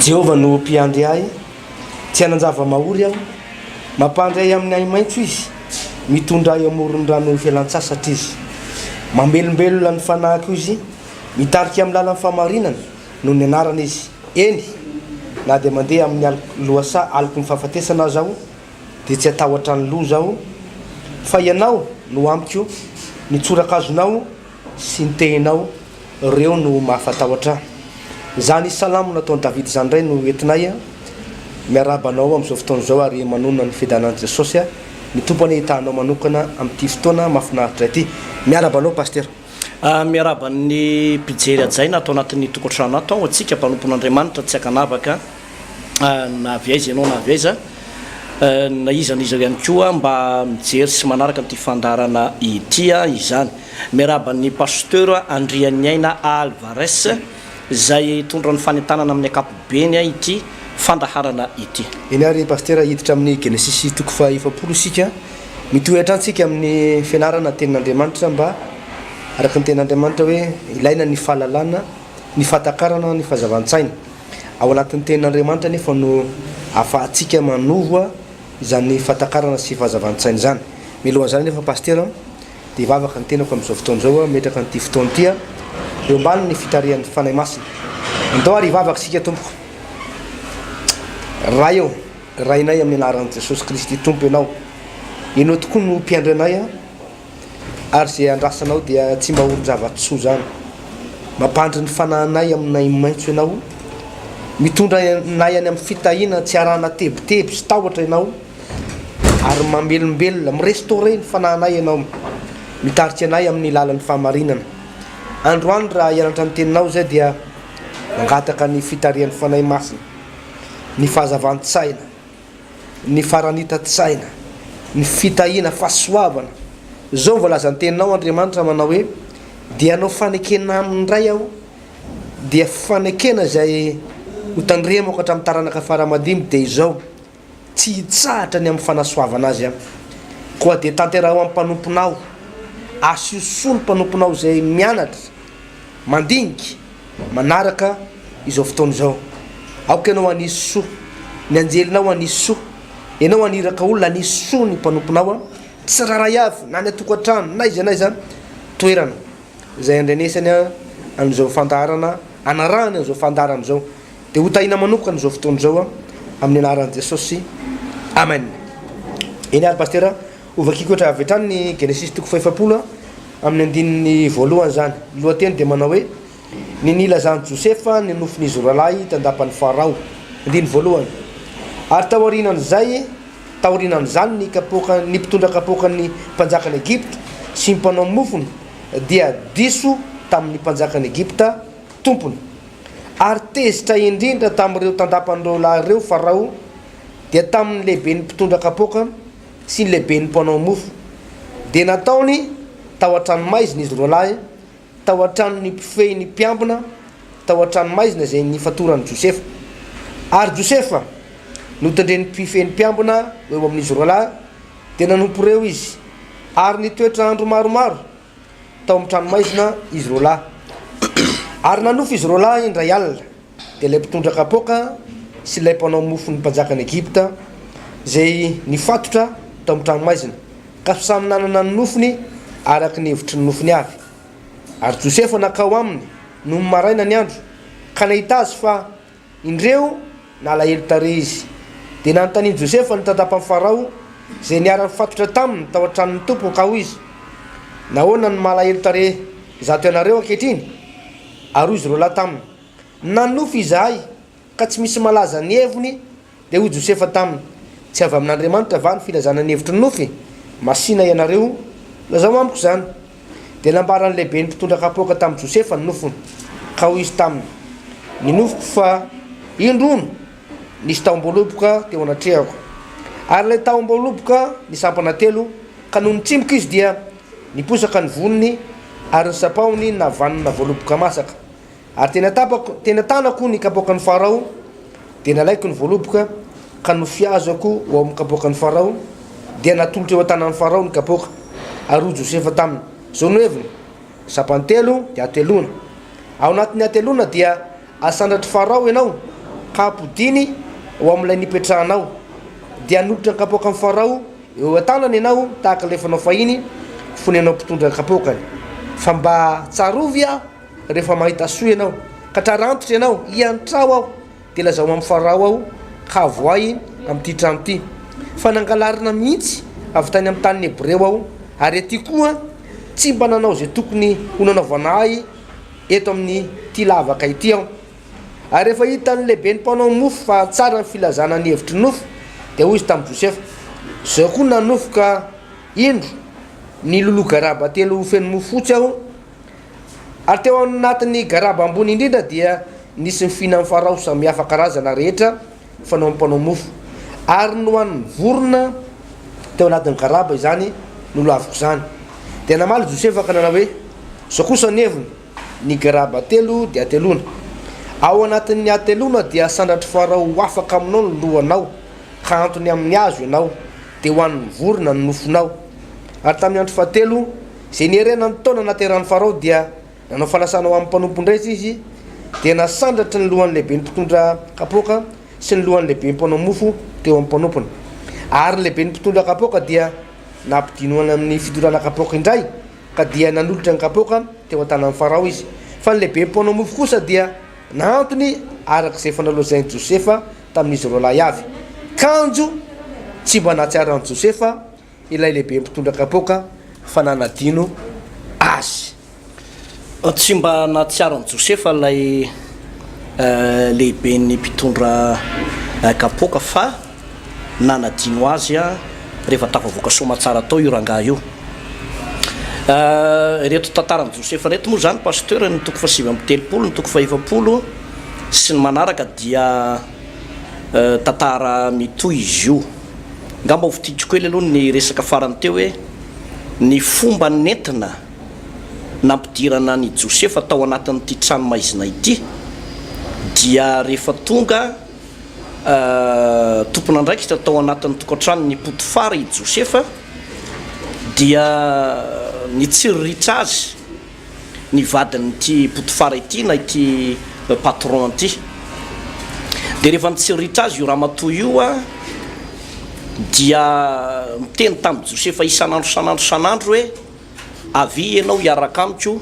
Jehovah no Mpiandry ahy, tsy hanan-java-mahory aho. Mampandry ahy amin'ny ahi-maitso izy, mitondra ahy amoron'ny rano fialan-tsasatra izy. Mamelombelona ny fanahiko izy, mitarika amin'ny lalan'ny fahamarinana noho ny anarany izy. Eny, na dia mandeha amin'ny aloky lohasaha aloky ny fahafatesana aza aho, dia tsy hatahotra ny loza aho, fa ianao no amiko, ny tsorakazonao sy ny tehinao reo no mahafatahotra an! Zany salamo nataon'i David zany ndray no entinay an! Miarahaba anao amin'izao fotoana izao ary manonona ny fiadanan'i Jesosy an! Ny Tompo anie hitaha anao manokana amin'ity fotoana mafinaritra ity! Miaraba anao Pasitera! Miaraba ny mpijery hajaina ato anatin'ny tokantrano ato aho, antsika mpanompon'Andriamanitra tsy ankanavaka. na avy aiza ianao na avy aiza, na iza na iza ihany koa mba mijery sy manaraka ity fandaharana ity izany. Miarahaba an'i Pasteur Andrianiaina Alvarez izay hitondra ny fanentanana amin'ny ankapobeny ity fandaharana ity. Eny ary Pasitera, hiditra amin'ny Genesisy toko faha efapolo isika. Mitohy hatrany isika amin'ny fianarana ny Tenin'Andriamanitra mba araka ny Tenin'Andriamanitra hoe ilaina ny fahalalana, ny fahatakarana, ny fahazavan-tsaina. Ao anatin'ny Tenin'Andriamanitra anefa no ahafahantsika manova izany fahatakarana sy fahazavan-tsaina izany. Mialohan'izany anefa Pasitera dia hivavaka ny tenako amin'izao fotoana izao aho mimetraka an'ity fotoana ity aho eo ambanin'ny fitarihan'ny Fanahy Masina. Andao ary hivavaka isika Tompoko. Ray ô, Rainay amin'ny anaran'i Jesosy Kristy Tompo Ianao. Ianao tokoa no Mpiandry anay. ary izay andrasanao dia tsy mba olon-java-tsoa izany. Mampandry ny fanahinay aminay maitso ianao, mitondra anay any amin'ny fitahiana tsy arahana tebiteby sy tahotra ianao, ary mamelombelona, mi-restaurer, ny fanahinay ianao, mitarika anay amin'ny lalan'ny fahamarinana. Androany raha hianatra ny Teninao izay dia mangataka ny fitarihan'ny Fanahy Masina, ny fahazavan-tsaina, ny faranitan-tsaina, ny fitahiana, fahasoavana. Izao ny voalazan'ny Teninao, Andriamanitra, manao hoe, Dia hanao fanekena aminy indray Aho, dia fanekena izay hotandremako hatramin'ny taranaka fara-amadimy, dia izao, Tsy hitsahatra ny amin'ny fanasoavana azy Aho. Koa dia tanteraho amin'ny mpanomponao, asio soa ny mpanomponao izay mianatra, Mandinika manaraka izao fotoana izao. Aoka ianao hanisy soa, ny anjelinao hanisy soa, ianao haniraka olona hanisy soa ny mpanomponao an, tsirairay avy na any an-tokantrano na aiza na aiza toerana izay andrenesany an'izao fandaharana anarahany an'izao fandaharana izao dia ho tahina manokana izao fotoana izao amin'ny anaran'i Jesosy, Amen. Eny ary Pasitera. Ho vakiako etra avy hatrany ny Genesisy toko fahefapolo amin'ny andininy voalohany izany. Ny lohateny dia manao hoe, Ny nilazan'i Josefa ny nofin'izy roa lahy tandapan'i Farao. Andininy voalohany. Ary taorianan'izay, taorianan'izany ny kapoaka, ny mpitondra kapoakan'ny mpanjakan'i Egypta sy ny mpanao mofony dia diso tamin'ny mpanjakan'i Egypta, tompony. Ary tezitra indrindra tamin'ireo tandapan'ireo lahy ireo Farao, dia tamin'ny lehiben'ny mpitondra kapoaka, sy ny lehiben'ny mpanao mofo, dia nataony tao an-tranomaizina izy roalahy, tao an-tranon'ny mpifehy ny mpiambina, tao an-tranomaizina izay nifatoran'i Josefa. Ary Josefa, notendren'ny mpifehy ny mpiambina ho eo amin'izy roalahy, dia nanompo ireo izy, ary nitoetra andro maromaro tao amin'ny tranomaizina izy roa lahy ary nanofy izy roa lahy indray alina dia ilay mpitondra kapoaka sy ilay mpanao mofon'ny mpanjakan'i Egypta izay nifatotra tao amin'ny tranomaizina ka samy nanana ny nofiny araka ny hevitry ny nofiny avy. Ary Josefa nankao aminy nony maraina ny andro ka nahita azy fa Indreo, nalahelo tarehy izy. Dia nanontanian'i Josefa ny tatapan'i Farao, izay niara-nifatotra taminy tao an-tranon'ny tompony, ka hoy izy, Nahoana no malahelo tarehy izato ianareo ankehitriny? Ary hoy izy roalahy taminy, Nanonofy izahay, ka tsy misy malaza ny heviny, Dia hoy Josefa taminy, Tsy avy amin'Andriamanitra va ny filazana ny hevitry ny nofy? Masìna ianareo, lazao amiko izany. Dia nambaran'ny lehiben'ny mpitondra kapoaka tamin'i Josefa ny nofiny, ka hoy izy taminy, Ny nofiko fa indro hono, nisy tahom-boaloboka teo anatrehako. Ary ilay tahom-boaloboka nisampana telo, ka nony tsimboka izy dia niposaka ny voniny, ary ny sapahony navanona voaloboka masaka. Ary tena tapako, tena tanako ny kapoakan'i Farao, dia nalaiko ny voaloboka ka nofiazako ho ao amin'ny kapoakan'i Farao, dia natolotra eo an-tanan'i Farao ny kapoaka, ary hoy Josefa taminy, Izao no heviny, Sampany telo dia hateloana. Ao anatin'ny hateloana dia hasandratr'i Farao ianao, ka hampodiany ho amin'ilay nipetrahanao. Dia hanolotra ny kapoakan'i Farao eo an-tanany ianao tahaka ilay fanao fahiny, fony ianao mpitondra kapoakany. Fa mba tsarovy aho! Rehefa mahita soa ianao, ka trarantitra ianao, iantrao aho, dia lazao amin'i Farao aho, ka avoahy amin'ity trano ity, fa nangalarina mihitsy avy tany amin'ny tanin'ny Hebreo aho, ary aty koa tsy mba nanao izay tokony ho nanaovana ahy eto amin'ity lavaka ity aho. Ary rehefa hitan'ny lehiben'ny mpanao mofo fa tsara ny filazana ny hevitry ny nofo, dia hoy izy tamin'i Josefa, Izao koa nanofy ka indro, niloloha garaba telo feno mofo fotsy aho, Ary teo anatin'ny garaba ambony indrindra dia nisy ny fihinan'ny Farao samihafa karazana rehetra fanaon'ny mpanao mofo. Ary nohanin'ny vorona teo anatin'ny garaba izany nolaviko izany. Dia namaly Josefa ka nanao hoe, Izao kosa ny heviny, Ny garaba telo dia hateloana. Ao anatin'ny hateloana dia sandratr'i Farao ho afaka aminao ny lohanao, ka hantony amin'ny hazo ianao, dia hohanin'ny vorona ny nofonao. Ary tamin'ny andro fahatelo, Izay niherena ny taona nahaterahan'i Farao dia nanao fanasana ho amin'ny mpanompon-dra izy, izy dia nasandratry ny lohan'ny lehiben'ny mpitondra kapoaka sy ny lohan'ny lehiben'ny mpanao mofo teo amin'ny mpanompony. Ary ny lehiben'ny mpitondra kapoaka dia nampidinohana amin'ny fidorana kapoaka indray, ka dia nanolotra ny kapoaka teo an-tanan'i Farao izy. Fa ny lehiben'ny mpanao mofo kosa dia nahantony araka izay efa nolazain'i Josefa tamin'izy roalahy avy. Kanjo tsy mba nahatsiaro an'i Josefa. ilay lehibe mpitondra kapoaka fa nanadino azy. Tsy mba nahatsiaro an'i Josefa ilay lehiben'ny mpitondra kapoaka fa nanadino azy rehefa tafavoaka soamatsara tao io rangahy io. Ireto tantaran'i Josefa ireto moa izany, Pasteur, ny toko fahasivy amby telopolo, ny toko fahefapolo sy ny manaraka dia Tantara mitohy izy io. Angamba hovidiako kely aloha ny resaka farany teo hoe ny fomba nentina nampidirana an'i Josefa tao anatin'ity trano maizina ity dia rehefa tonga tompon'andraikitra tao anatin'ny tokantranon'i Potifara i Josefa dia nitsiriritra azy ny vadin'ity Potifara ity na ity patron ity. Dia rehefa nitsiritra azy io ramatoa io dia niteny tamin'i Josefa isan'andro isan'andro isan'andro hoe, Avia ianao hiaraka amiko,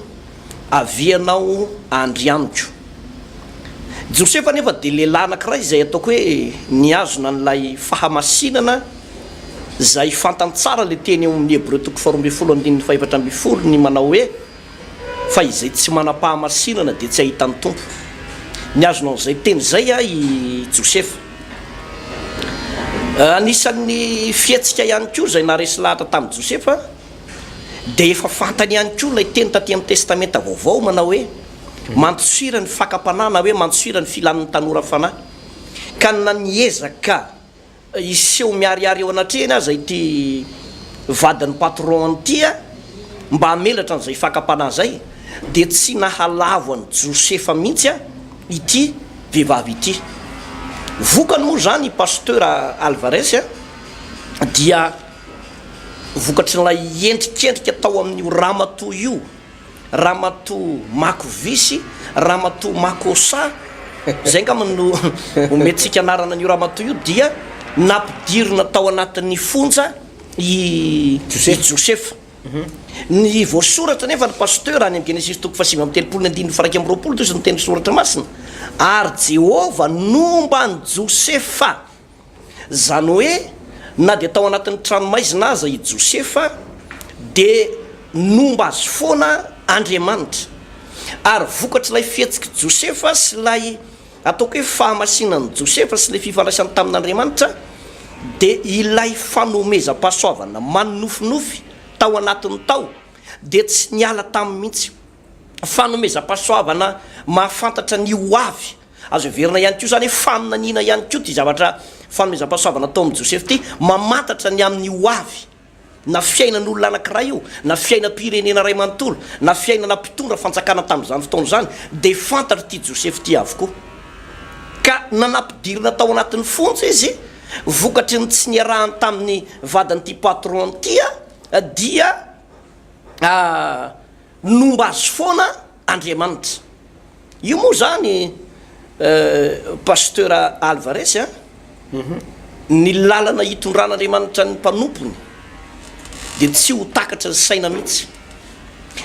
avia ianao handry amiko. Josefa anefa dia lehilahy anankiray izay ataoko hoe nihazona an'ilay fahamasinana izay fantany tsara ilay teny ao amin'ny Hebreo toko faharoa ambin'ny folo andininy fahefatra ambin'ny folo ny manao hoe fa izay tsy manam-pahamasinana dia tsy hahita ny Tompo. Nihazona an'izay teny izay i Josefa. Anisan'ny fihetsika ihany koa izay naharesy lahatra tamin'i Josefa dia efa fantany ihany koa ilay teny taty amin'ny Testamenta Vaovao manao hoe Mandosira ny fakam-panahy na hoe mandosira ny filan'ny tanora fanahy. Ka na niezaka hiseho miharihary eo anatrehany aza ity vadin'ny patron-ny ity mba hamelatra an'izay fakam-panahy izay dia tsy nahalavo an'i Josefa mihitsy ity vehivavy ity. Vokany moa izany i Pasteur Alvarez dia vokatrin'ilay endrikendrika tao amin'io ramatoa io. Ramatoa Mako Visy, Ramatoa Makosa, izay angamba no omentsika anarana an'io ramatoa io, dia nampidirina tao anatin'ny fonja i Josefa. Ny voasoratra anefa ny Pasteur any amin'ny Genesisy toko fahasivy amby telopolo ny andininy faharaika amby roapolo dia hoy izy niteny ny Soratra Masina, ary Jehovah nomba an'i Josefa Izany hoe na dia tao anatin'ny tranomaizina aza i Josefa, dia nomba azy foana Andriamanitra. Ary vokatr'ilay fihetsik'i Josefa sy ilay ataoko hoe fahamasinan'i Josefa sy ilay fifandraisany tamin'Andriamanitra, dia ilay fanomezam-pahasoavana manonofinofy tao anatiny tao dia tsy niala taminy mihitsy. Fanomezam-pahasoavana mahafantatra ny ho avy. Azo heverina ihany koa izany hoe faminaniana ihany koa ity zavatra fanomezam-pahasoavana ataon'i Joseph ity, mamantatra ny amin'ny ho avy, na fiainan'olona anankiray io, na fiainam-pirenena iray manontolo, na fiainana mpitondra fanjakana tamin'izany fotoana izany, dia fantatr'ity Joseph ity avokoa. Ka na nampidirina tao anatin'ny fonja izy, vokatry ny tsy niarahany tamin'ny vadin'ity patron ity, dia. Ny nomba azy foana Andriamanitra. Io moa zany Pasteur Alvarez a, ny lalana hitondran'Andriamanitra ny mpanompony dia tsy ho takatry ny saina mihitsy.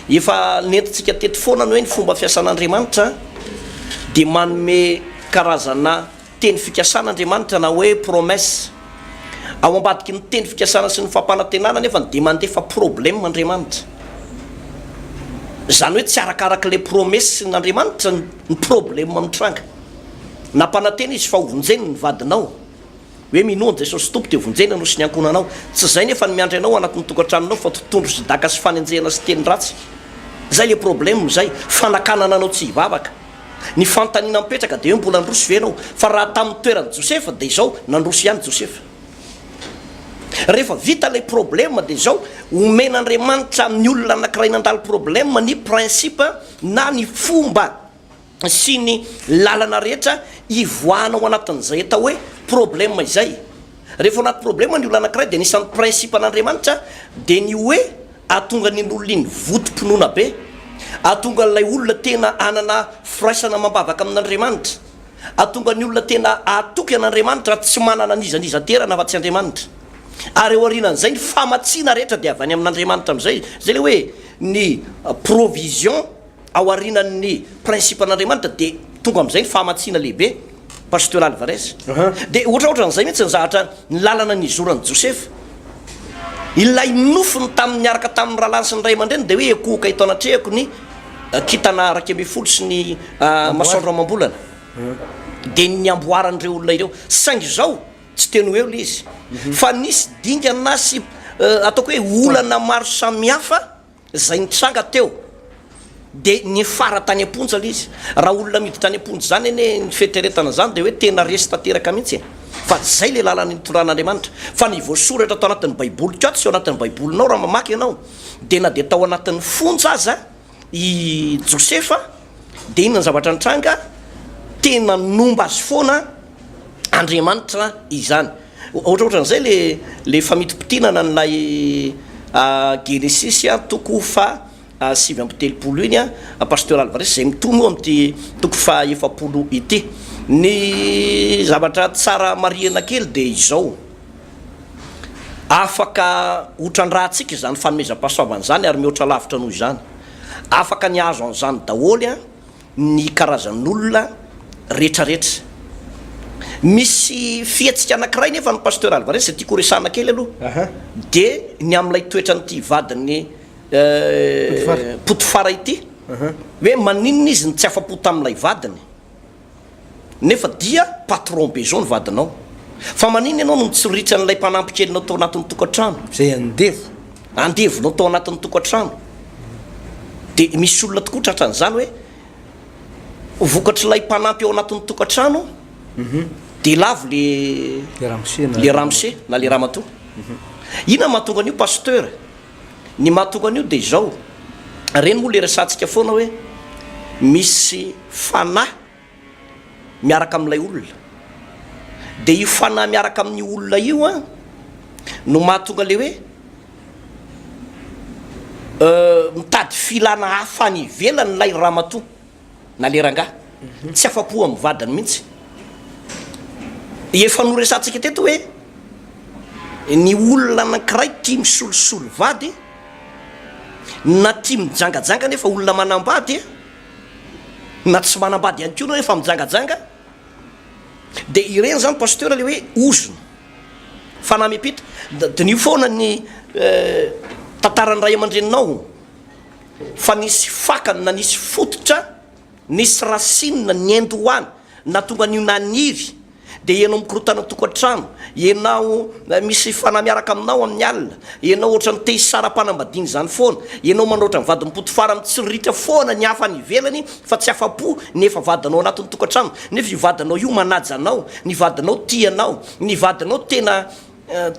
Efa nentintsika teto foana ny hoe ny fomba fiasan'Andriamanitra dia manome karazana. Teny fikasan' Andriamanitra na hoe promesse. Ao ambadiky ny teny fikasana sy ny fampanantenana anefa dia mandefa problème Andriamanitra. Izany hoe tsy arakarak' ilay promesse-n' Andriamanitra ny problème mitranga. Nampanantena Izy fa hovonjeny ny vadinao, hoe minoa an'i Jesosy Tompo dia hovonjena anao sy ny ankohonanao. Tsy izay nefa ny miandry anao anatin'ny tokantranonao fa totohondry sy daka sy fanenjehana sy teny ratsy. Izay ilay problème izay, fanakanana anao tsy hivavaka. Ny fanontaniana mipetraka dia hoe mbola handroso ve ianao? Fa raha tamin'ny toeran'i Josefa dia izao, nandroso ihany Josefa. Rehefa vita ilay problème dia izao, omen'Andriamanitra amin'ny olona anankiray nandalo problème ny principe na ny fomba sy ny lalana rehetra hivoahana ao anatin'izay atao hoe problème izay. Rehefa ao anaty problème ny olona anankiray dia anisan'ny principe an'Andriamanitra dia ny hoe. Hahatonga an'iny olona iny votom-pinoana be. Hahatonga an'ilay olona tena hanana firaisana amam-bavaka amin'Andriamanitra. Hahatonga ny olona tena hahatoky an'Andriamanitra ary tsy manana an'iza n'iza aterana afa-tsy Andriamanitra. Ary ao aorianan'izay, ny famatsiana rehetra dia avy any amin'Andriamanitra amin'izay. Izay ilay hoe ny provision. Ao aorianan'ny principe-n'Andriamanitra dia tonga amin'izay ny fahamatsiana lehibe, Pasteur Alvarez. Dia ohatraohatran'izay mihitsy ny zahatra ny lalana nizoran'i Josefa. Ilay nofiny tamin'ny niaraka tamin'ny rahalahiny sy ny ray aman-dreniny dia hoe ekohoka eto anatrehako ny kintana iraika ambin'ny folo sy ny masoandro amam-bolana. Dia ny amboaran'ireo olona ireo. Saingy izao, tsy teny ho eo ilay izy. Fa nisy dingana sy ataoko hoe olana maro samihafa. Izay nitranga teo dia niafara tany am-ponja ilay izy. Raha olona miditra any am-ponja izany anie ny fieritreretana izany dia hoe tena resy tanteraka mihitsy e! Fa izay ilay lalana nitondran'Andriamanitra. Fa ny voasoratra tao anatin'ny baiboliko ato sy ao anatin'ny baibolinao raha mamaky ianao dia na dia tao anatin'ny fonja aza i Josefa dia inona ny zavatra nitranga? Tena nomba azy foana. Andriamanitra izany. Ohatrohatran'izay le le famintimpitiana an'ilay Genesisy toko faha sivy amby telopolo iny Pasteur Alvarez izay mitohy moa amin'ity toko faha efapolo ity. Ny zavatra tsara marihina kely dia izao, afaka hotran-drantsika izany fanomezam-pahasoavana izany ary mihoatra lavitra noho izany. Afaka ny hahazo an'izany daholo. ny karazan'olona retraretra. Misy fihetsika anakiray nefa ny Pasteur Alvarez izay tiako horesahana kely aloha de ny amin'ilay toetran'ity vadin'i Potifara ity hoe maninona izy no tsy afa-po tamin'ilay vadiny? Nefa dia patron be zao ny vadinao. Fa maninona ianao no mitsoritry an'ilay mpanampy kelinao tao anatin'ny tokantrano? Izay andevo. Andevonao tao anatin'ny tokantrano. Dia misy olona tokoa tratra an'izany hoe, ho vokatr'ilay mpanampy ao anatin'ny tokantrano, dia lavo le, le ramose na le ramatoa. Inona no mahatonga an'io Pasteur? Ny mahatonga an'io dia izao, ireny moa ilay resahantsika foana hoe misy fanahy miaraka amin'ilay olona, dia io fanahy miaraka amin'io olona io an no mahatonga ilay hoe mitady filana hafa any ivelany ilay ramatoa. na le rangah tsy afapo amin'ny vadiny mihitsy. Efa noresahantsika teto hoe ny olona anankiray tia misolosolo vady na tia mijangajanga nefa olona manambady na tsy manambady ihany koa nefa mijangajanga dia ireny zany pasteur le hoe ozona fanahy miampita. Diniho foana ny tantaran'ny ray aman-dreninao. Fa nisy fakany na nisy fototra nisy rasinina niendy ho any nahatonga an'io naniry dia ianao mikorontana an-tokantrano, ianao misy fanahy miaraka aminao amin'ny alina, ianao ohatran'ny te hisara-panambadiana izany foana, ianao manao ohatran'ny vadim-potifara mitsiririitra foana ny hafa any ivelany fa tsy afa-po ny efa vadinao anatin'ny tokantrano nefa io vadinao io manaja anao, ny vadinao tia anao, ny vadinao tena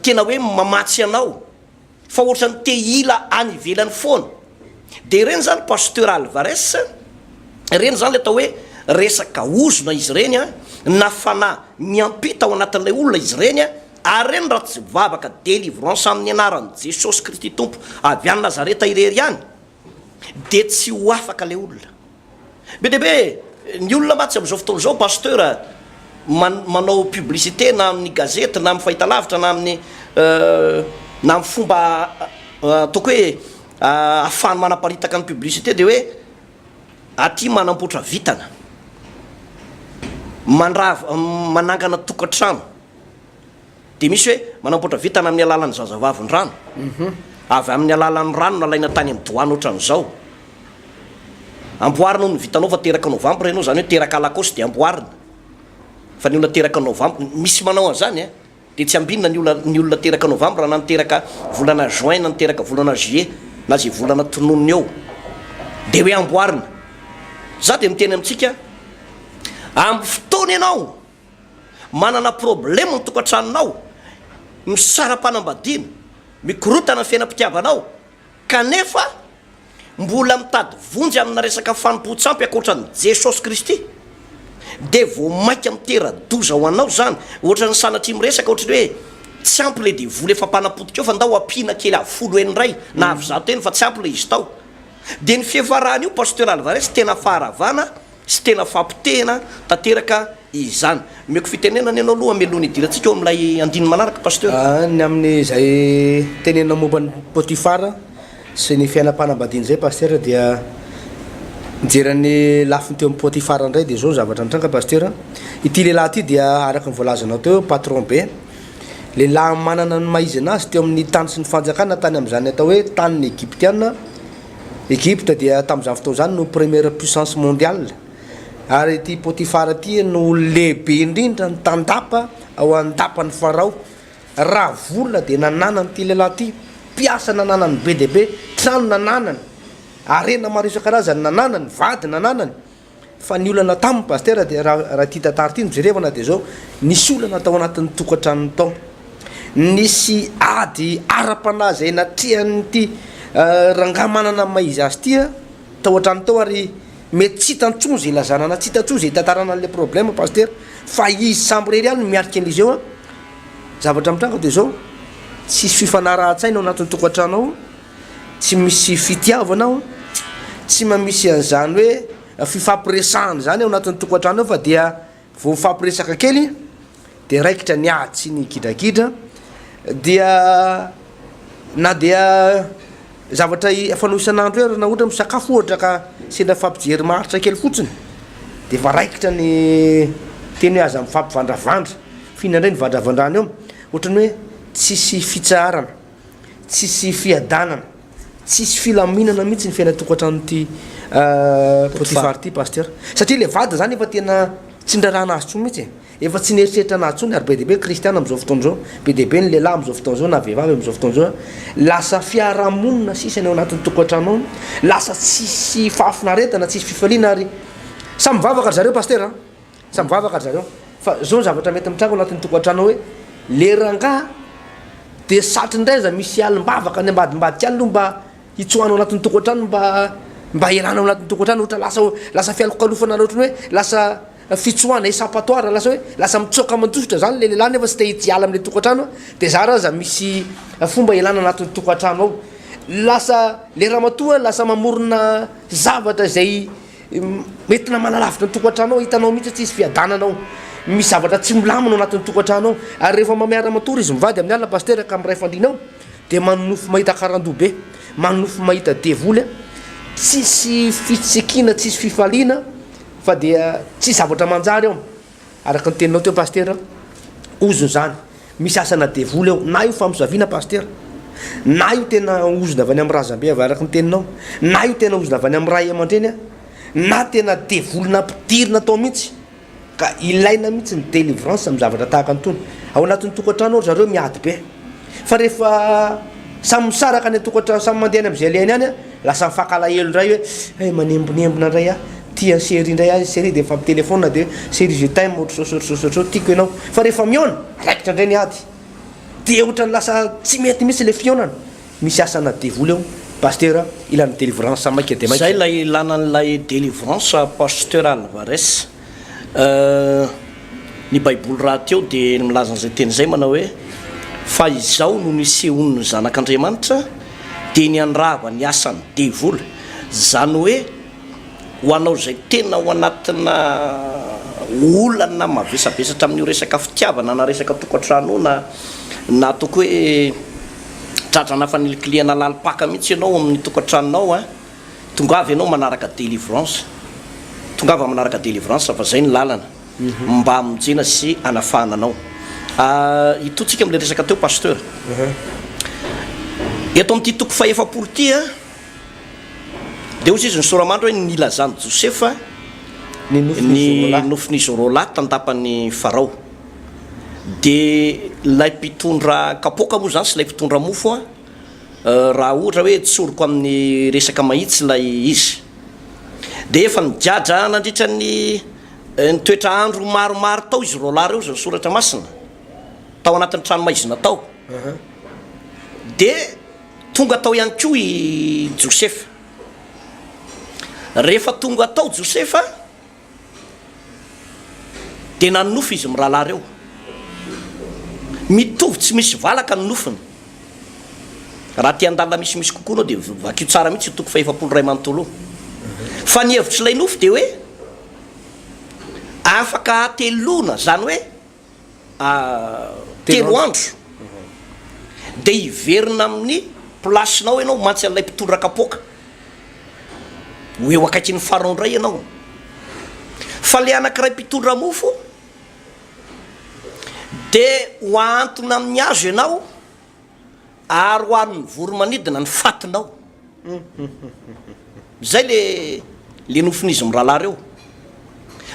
tena hoe mamatsy anao. Fa ohatrany te hila any ivelany foana. Dia ireny zany Pasteur Alvarez, ireny zany le atao hoe resaka ozona izy ireny an, na fanahy miampita ao anatin'ilay olona izy ireny an, ary ireny raha tsy vavaka delivrance amin'ny anaran'i Jesosy Kristy Tompo avy any Nazareta irery ihany Dia tsy ho afaka ilay olona. Be dia be ny olona mantsy amin'izao fotoana izao Pasteur manao publicité na amin'ny gazety na amin'ny fahitalavitra na amin'ny na amin'ny fomba ataoko hoe ahafahany manaparitaka ny publicité dia hoe aty manamboatra vintana, mandrava manangana tokantrano. dia misy hoe manampoatra vintana amin'ny alalan'ny zazavavindrano, avy amin'ny alalan'ny rano nalaina tany amin'ny doany ohatran'izao. Amboarina hono ny vintanao fa teraka novambra ianao, izany hoe teraka alakaosy dia amboarina fa ny olona teraka novambra, misy manao an'izany an! dia tsy ambinina ny olona ny olona teraka novambra na ny teraka volana juin na ny teraka volana juillet na izay volana tononiny eo dia hoe amboarina. Za dia miteny amintsika amin'ny fotoana ianao Manana problème ny tokantranonao, misara-panambadiana, mikorotana ny fiainam-pitiavanao kanefa mbola mitady vonjy amina resaka fanompoan-tsampy ankoatra an'i Jesosy Kristy dia vao mainka mitera-doza ho anao izany. Ohatran'ny sanatria miresaka ohatry ny hoe tsy ampy ilay devoly efa mpanapotika eo fa ndao ampiana kely avy folo heny indray na avy zato heny fa tsy ampy ilay izy tao. Dia ny fiafarany io Pasteur Alvarez tena faharavana. Tsy tena fampotehina tanteraka izany. Omeko fitenenana ianao aloha meloha ny hidirantsika ao amin'ilay andininy manaraka Pasteur. Ny amin'izay teneninao momba an'i Potifara sy ny fiainam-panambadiany izay Pasteur dia mijery an'ny lafiny teo amin'i Potifara indray dia izao ny zavatra nitranga Pasteur, ity lehilahy ity dia araka ny voalazanao teo eo patron be, lehilahy manana ny maha izy an'azy teo amin'ny tany sy ny fanjakana tany amin'izany atao hoe tanin'ny Egyptiana, Egypte dia tamin'izany fotoana izany no première puissance mondiale ary ity Potifara ity no lehibe indrindra ny tandapa ao andapan'i Farao. Raha vola dia nananany ity lehilahy ity, mpiasa nananany be dia be, trano nananany, harena maro isan-karazany nananany, vady nananany, Fa ny olana taminy Pasitera dia raha raha ity tantara ity no jerevana dia izao, nisy olana tao anatin'ny tokantranony tao, nisy ady ara-panahy izay natrehan'ity rangahy manana ny maha izy azy ity tao an-trano tao ary mety tsy hitany intsony izay ilazana na tsy hitany intsony izay itantarana an'ilay problème Pasitera fa izy samy irery ihany no miatrika an'izy eo an! zavatra mitranga dia izao, tsisy fifanarahan-tsaina ao anatin'ny tokantranao. Tsy misy fitiavana ao, tsy mba misy an'izany hoe fifampiresahana izany ao anatin'ny tokantrano ao fa dia vao mifampiresaka kely dia raikitra ny ady sy ny gidragidra dia na dia zavatra fanao isan'andro aza na ohatra misakafo ohatra ka sendra mifampijery maharitra kely fotsiny dia efa raikitra ny teny hoe aza mifampivandravandra, f'inona indray no vandravandrana eo? Ohatran'ny hoe tsisy fitsaharana. Tsisy fiadanana, tsisy filaminana mihitsy ny fiainan-tokantranon'ity Potifara ity Pasteur, satria le vadiny zany efa tena tsy nirarahana azy tsony mihitsy e, efa tsy nieritreritra anazy tsony ary be dia be kristiana amzao fotoana zao, be dia be ny lehilahy amzao fotoana zao na vehivavy amzao fotoana zao, lasa fiarahamonina sisa ny ao anatin'ny tokantrano ao, lasa tsisy fahafinaretana, tsisy fifaliana ary samy mivavaka ry zareo Pasteur a. Samy vavaka ry zareo. Fa zao ny zavatra mety mitranga ao anatin'ny tokantrano hoe le rangaha dia satry ny raiza misy alim-bavaka any ambadimbadika any aloha mba hitsoahana ao anatin'ny tokantrano mba mba hialana ao anatin'ny tokantrano ohatra lasa lasa fialokalofana na ohatran'ny hoe lasa fitsoahana esapatoire lasa hoe lasa mitsoaka aman-tofotra zany le lehilahy nefa tsy te hit- hiala am'le tokantrano de zara aza misy fomba hialana anatin'ny tokantrano ao. Lasa le ramatoa lasa mamorona zavatra izay Mety namana lavitra ny tokantrano ao, hitanao mihitsy hoe tsy hisy fiadanana ao, misy zavatra tsy milamina ao anatin'ny tokantrano ao, ary rehefa mamea ra matory izy mivady amin'ny alina pasitera ka miray fandriana ao dia manonofy mahita karandoha be, manonofy mahita devoly a! tsisy fitsikiana, tsisy fifaliana fa dia tsisy zavatra manjary ao. Araka ny teninao teo Pasitera, ozona izany. Misy asana devoly ao. Na io famosaviana Pasitera. Na io tena ozona avy any amin'ny razambe avy araka ny teninao. Na io tena ozona avy any amin'ny ray aman-dreny an. Na tena devoly nampidirina tao mihitsy. Ka ilaina mihitsy ny delivrance amin'ny zavatra tahaka an'itony. Ao anatin'ny tokantrano ao ry zareo miady be. Fa rehefa samy misaraka any an-tokantrano, samy mandeha any amin'izay ilainy any, lasa mifankalahelo indray hoe hay manembonembona indray aho, tia an'i Cherie indray aho, i Cherie dia mifampitelefaonina dia hoe Cherie je t'aime ohatr'izao ohatr'izao ohatr'izao ohatr'izao, tiako ianao. Fa rehefa mihaona, raikitra indray ny ady. Dia ohatran'ny lasa tsy mety mihitsy ilay fihaonana. Misy asana devoly ao, Pasteur a, ilana délivrance maika dia maika. Zay ilay ilana an'ilay délivrance Pasteur Alvarez. Ny Baiboly rahateo dia milaza an'izay teny izay manao hoe, Fa izao no nisehoan'ny Zanak'Andriamanitra, dia niandrava ny asan'ny devoly. Izany hoe, ho anao izay tena ao anatina olana mavesabesatra amin'io resaka fitiavana na resaka tokantrano io, na na ataoko hoe tradrana fanilikilihana lalim-paka mihitsy ianao ao amin'ny tokantranonao, Tongava ianao manaraka délivrance tongava manaraka délivrance fa zay ny lalana mba hamonjena sy hanafahana anao ahh hitotsika amle resaka teo pasteur eto amty toko fahefapolo ty a de ozy izy nisoramandry hoe nilazany josefa Ny nofin'i ny Zorola. nofin'izy roalahy tandapany farao de lay mpitondra kapoaka moa zany sy lay mpitondra mofo a raha ohatra hoe tsoriko amin'ny resaka mahitsy ilay izy dia efa nigadra nandritra ny ny toetra andro maromaro tao izy roalahy ireo izay ny soratra masina tao anatin'ny tranomaizina tao dia tonga tao ihany koa i josefa rehefa tonga tao josefa Dia nanonofy izy mirahalahy ireo. Mitovy tsy misy valaka ny nofiny. Raha te handalina misimisy kokoa ianao dia vakio tsara mihitsy io toko fahefapolo iray manontolo io. Fa ny hevitr'ilay nofy dia hoe afaka hateloana, izany hoe telo andro dia hiverina amin'ny place nao ianao mantsy an'ilay mpitondra kapoaka ho eo akaikin'ny pharaon indray ianao fa le anankiray mpitondra mofo dia ho ahantona amin'ny hazo ianao Ary ho an'ny voromanidina ny fatinao. Izay le le nofin'izy mirahalahy reo.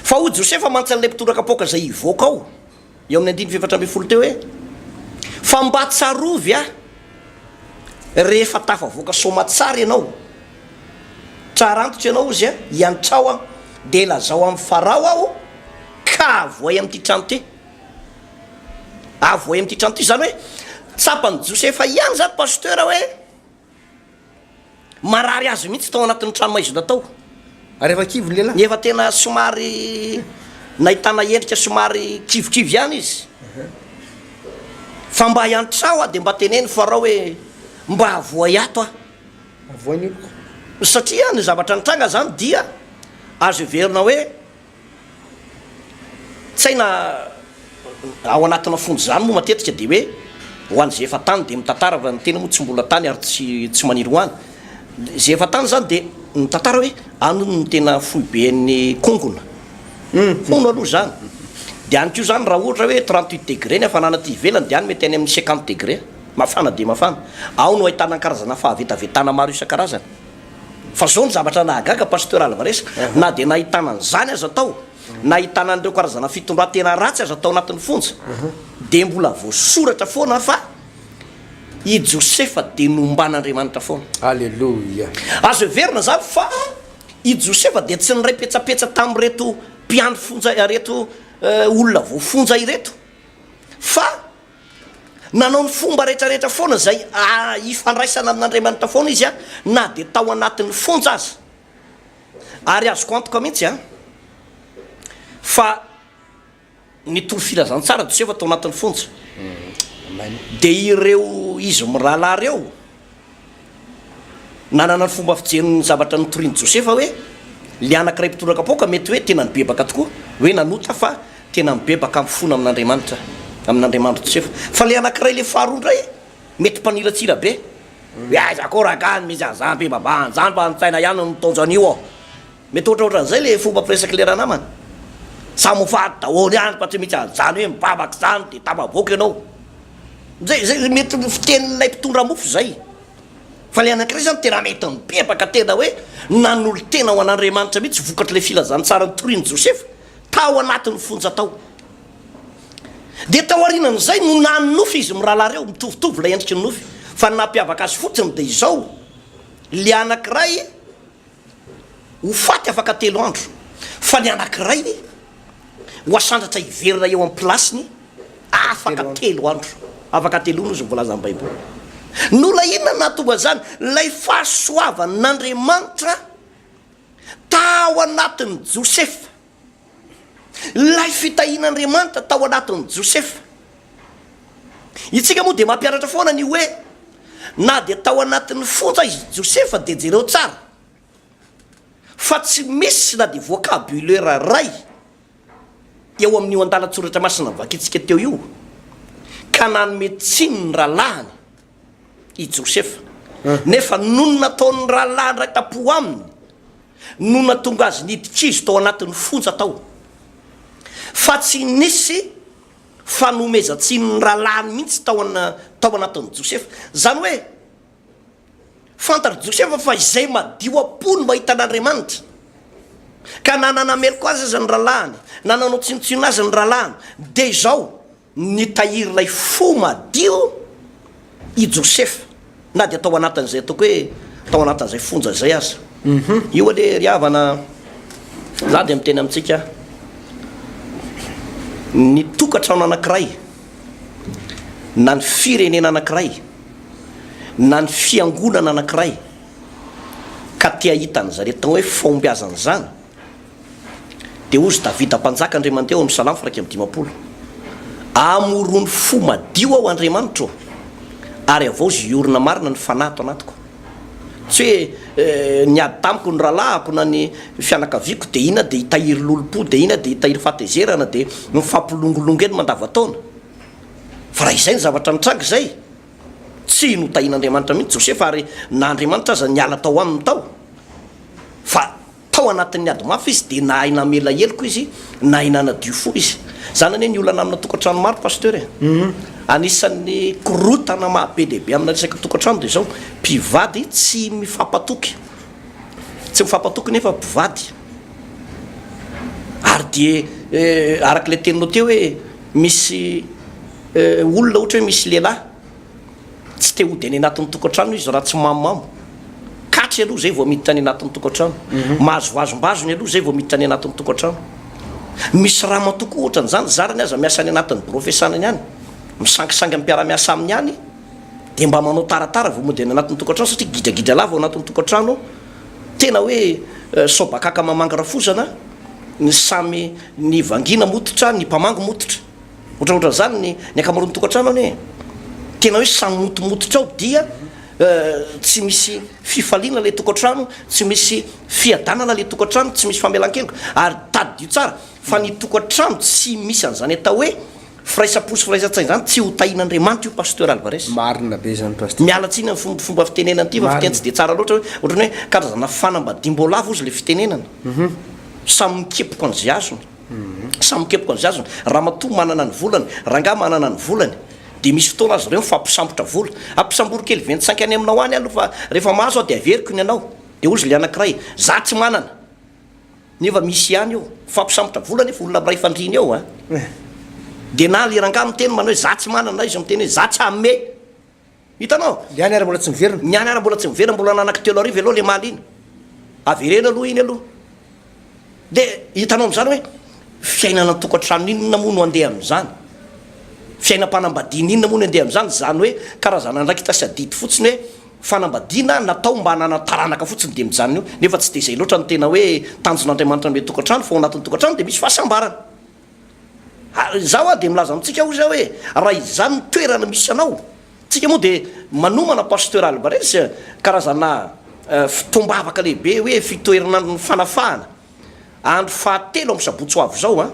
Fa hoy Josefa mantsy an'ilay mpitondra kapoaka izay hivoaka ao, eo amin'ny andininy fahefatra ambin'ny folo teo hoe, Fa mba tsarovy ahy rehefa tafavoaka soamatsara ianao, tsara antitra ianao hozy a, iantrao aho, dia lazao amin'i Farao aho ka avohay amin'ity trano ity. Avohay amin'ity trano ity, izany hoe tsapan'i Josefa ihany izany Pasteur hoe marary azy mihitsy tao anatin'ny trano maizina tao. Ary efa kivy ny lehilahy. Ny efa tena somary nahitana endrika somary kivikivy ihany izy. Fa mba hiantra aho aho dia mba teneno Farao hoe mba avohay ato aho. Avohay ny oloko. Satria ny zavatra nitranga izany dia azo heverina hoe. Tsaina ao anatina fonja izany moa matetika dia hoe ho an'izay efa tany dia mitantara fa ny tena moa tsy mbola tany ary tsy tsy maniry ho any. Izay efa tany izany dia mitantara hoe any hono no tena foiben'ny kongona. Hono aloha izany. Dia any koa izany raha ohatra hoe trente huit degré ny hafanana aty ivelany dia any mety any amin'ny cinquante degré. Mafana dia mafana. Ao no ahitana ny karazana fahavetavetana maro isan-karazany. Fa zao ny zavatra nahagaga Pasteur Alvarez, na dia nahitana an'izany aza tao, nahitana an'ireo karazana fitondran-tena ratsy aza tao anatin'ny fonja, dia mbola voasoratra foana fa i Josefa dia nomban'Andriamanitra foana. Aleloia. Azo heverina izany fa i Josefa dia tsy niray petsapetsa tamin'ireto mpiandry fonja, ireto olona voafonja ireto, fa Nanao ny fomba rehetrarehetra foana izay hifandraisana amin'Andriamanitra foana izy na dia tao anatin'ny fonja aza. Ary azoko antoka mihitsy fa nitory filazantsara Josefa tao anatin'ny fonja. Dia ireo izy mirahalahy ireo. Nanana ny fomba fijeriny ny zavatra notorin'i Josefa hoe ilay anankiray mpitondra kapoaka mety hoe tena nibebaka tokoa, hoe nanota fa tena mibebaka mifona amin'Andriamanitra, amin'Andriamanitry Josefa. Fa ilay anankiray, ilay faharoa indray mety mpaniratsira be. Hoe aiza koa ragah ny misy an'izany ve babah, an'izany mba an-tsaina ihany ny mitaonjo an'io ô. Mety ohatraohatran'izay le fomba firesak'i le ranamana. Samy ho faty daholo ihany fa tsy misy an'izany hoe mivavaka izany dia tafavoaka ianao. Izay izay mety ny fitenin'ilay mpitondra mofo izay. Fa le anankiray izany tena mety mibebaka tena hoe nanolo-tena ho an'Andriamanitra mihitsy vokatr'ilay filazantsara notorin'i Josefa tao anatin'ny fonja tao. Dia tao aorianan'izay no nany nofy izy mirahalahy ireo, mitovitovy ilay endriky ny nofy fa ny nampiavaka azy fotsiny dia izao, le anankiray, ho faty afaka telo andro, fa ny anankiray ho asandratra hiverina eo amin'ny pilasiny afaka telo andro. Afaka telo andro izy no voalazan'ny Baiboly. Nolay inona no nahatonga an'izany? Ilay fahasoavan'Andriamanitra tao anatin'i Josefa. Ilay fitahian'Andriamanitra tao anatin'i Josefa. Isika moa dia mampianatra foana ny hoe na dia tao anatin'ny fonja izy Josefa dia jereo tsara fa tsy misy na dia vocabulaire iray eo amin'io andalan-tsoratra masina vakintsika teo io ka nanome tsiny ny rahalahiny i Josefa, nefa nony nataon'ny rahalahiny iray tam-po aminy no natonga azy niditra izy tao anatin'ny fonja tao, fa tsy nisy fanomezan-tsinon'ny rahalahiny mihitsy tao tao anatin'i Josefa. Izany hoe, fantatr'i Josefa fa izay madio am-po no mahita an'Andriamanitra, ka na nanameloka azy aza ny rahalahiny, na nanao tsinontsinona azy ny rahalahiny, dia izao, Nitahiry ilay fo madio i Josefa, na dia tao anatin'izay ataoko hoe tao anatin'izay fonja izay aza. Io anie ry havana, izaho dia miteny amintsika, ny tokantrano anankiray, na ny firenena anankiray, na ny fiangonana anankiray, ka te hahita an'izany atao hoe fahombiazana izany, Dia hozy Davida mpanjaka Andriamanitao ao amin'ny Salamo firaika amby dimampolo, Amorony fo madio aho Andriamanitro ô, ary havaozy hiorina marina ny fanahy ato anatiko. Tsy hoe niady tamiko ny rahalahiko na ny fianakaviako dia ina dia hitahiry lolompo dia ina dia hitahiry fahatezerana dia mifampilongolongo eny mandavantaona. Fa raha izay ny zavatra nitranga izay, tsy notahin'Andriamanitra mihitsy Josefa ary na Andriamanitra aza niala tao aminy tao fa Tao anatin'ny ady mafy izy dia nahay namela heloka izy, nahay nanadio fo izy. Izany anie ny olana amina tokantrano maro Pasteur e! Anisan'ny korotana maha be dia be amina resaka tokantrano dia izao, mpivady tsy mifampatoky, tsy mifampatoky nefa mpivady. Ary dia araka ilay teninao teo hoe misy olona ohatra hoe misy lehilahy, Tsy te hody any anatin'ny tokantrano izy raha tsy mamomamo. Catch aloha izay vao miditra any anatin'ny tokantrano. Mahazoazom-bazony aloha izay vao miditra any anatin'ny tokantrano. Misy ramatoa koa ohatran'izany, zarany aza miasa any anatin'ny birao fiasanany any, misangisangy amin'ny mpiara-miasa aminy any, dia mba manao taratara vao mody any anatin'ny tokantrano satria gidragidra lava ao anatin'ny tokantrano ao. Tena hoe sao bakaka mamangy rafozana, ny samy, ny vangiana mototra, ny mpamangy mototra. Ohatraohatran'izany ny ny ankamaroan'ny tokantrano anie e! Tena hoe samy motomototra ao dia tsy misy fifaliana ilay tokantrano, tsy misy fiadanana ilay tokantrano, tsy misy famelan-keloka. Ary tadidio tsara fa ny tokantrano tsy misy an'izany atao hoe firaisam-po sy firaisan-tsaina izany tsy ho tahian'Andriamanitra io Pasteur Alvarez. Marina be izany Pasteur. Miala tsiny amin'ny fomba fomba fitenenana ity fa fiteny tsy dia tsara loatra hoe ohatran'ny hoe karazana fanambadiam-boalavo ozy ilay fitenenana. Samy mikepoka an'izay azony. Samy mikepoka ny zaziny. Ramatoa manana ny volany, rangahy manana ny volany. Dia misy fotoana azy ireo mifampisambotra vola. Ampisambory kely ventsainq any aminao any aloha fa rehefa mahazo aho dia averiko ny anao. Dia hozy ilay anankiray, za tsy manana. Nefa misy ihany eo. Mifampisambotra vola nefa olona miray fandriana eo an. Dia na ilay rangahy miteny manao hoe za tsy manana na izy miteny hoe za tsy hanome. Hitanao? Ny any ary mbola tsy miverina. Ny any ary mbola tsy miverina, mbola ananak telo arivo aloha le maly iny. Avereno aloha iny aloha. Dia hitanao amin'izany hoe fiainana an-tokantrano inona moa no andeha amin'izany? Fiainam-panambadiana inona moa no andeha amin'izany? Izany hoe karazana andraikitra sy adidy fotsiny hoe fanambadiana natao mba hananany taranaka fotsiny dia mijanona eo, nefa tsy dia izay loatra ny tena hoe tanjon'Andriamanitra ny hoe tokantrano fa ao anatin'ny tokantrano dia misy fahasambarana. Ary izaho aho dia milaza amintsika hoy za hoe raha izany ny toerana misy anao, tsika moa dia manomana Pasteur Albares karazana fotoam-bavaka lehibe hoe fitoherin'andron'ny fanafahana, andro fahatelo amin'ny sabotsy ho avy izao an,